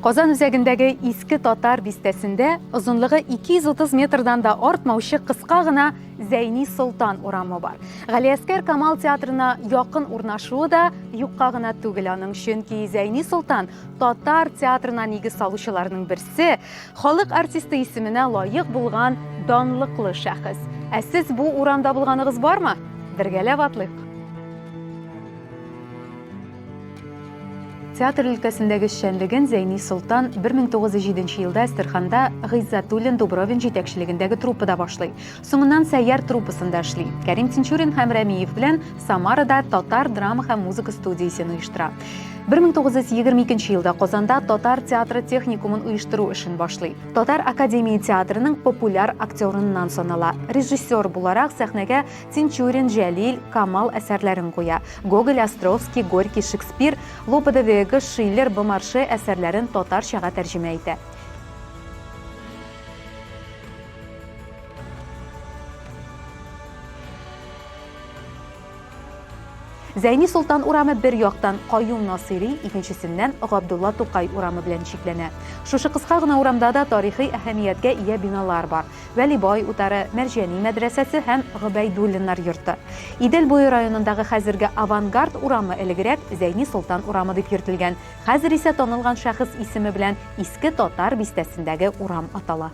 Казан үзәгендәге Иске Татар бистәсендә озынлыгы 230 метрдан да артмаучы кыска гына Зәйни Солтан урамы бар. Галиәскәр Камал театрына якын урнашуы да юкка гына түгел аның, чөнки Зәйни Солтан татар театрына нигез салучыларның берсе, Халык артисты исеменә лаек булган данлыклы шәхес. Ә сез бу урамда булганыгыз бармы? Бергәләп атлыйк! Театр өлкәсендәге эшчәнлеген Зәйни Солтан 1907 елда Әстерханда Гыйззәтуллин Дубровин җитәкчелегендәге труппада башлый. Соңыннан Сәйяр труппасында эшли. Кәрим Тинчурин һәм Рәмиев белән Самарада татар драма һәм музыка студиясен оештыра. 1922 елда Казанда татар театры техникумын оештыру эшен башлый. Татар академия театрының популяр актерыннан санала. Режиссер буларак сәхнәгә Тинчурин, Җәлил, Камал әсәрләрен куя. Гоголь, Островский, Горький, Шекспир, Лопе де Вега, Шиллер, Бомарше әсәрләрен татарчага тәрҗемә итә. Зәйни Солтан урамы бер яктан Каюм Насыйри, икенчесеннән Габдулла Тукай урамы белән чикләнә. Шушы кыска гына урамда да тарихи әһәмияткә ия биналар бар, Вәлибай утары, Мәрҗани мәдрәсәсе һәм Гобәйдуллиннар йорты. Идел буе районындагы хәзерге Авангард урамы элегрәк Зәйни Солтан урамы дип йөртелгән, хәзер исә танылган шәхес исеме белән Иске Татар бистәсендәге урам атала.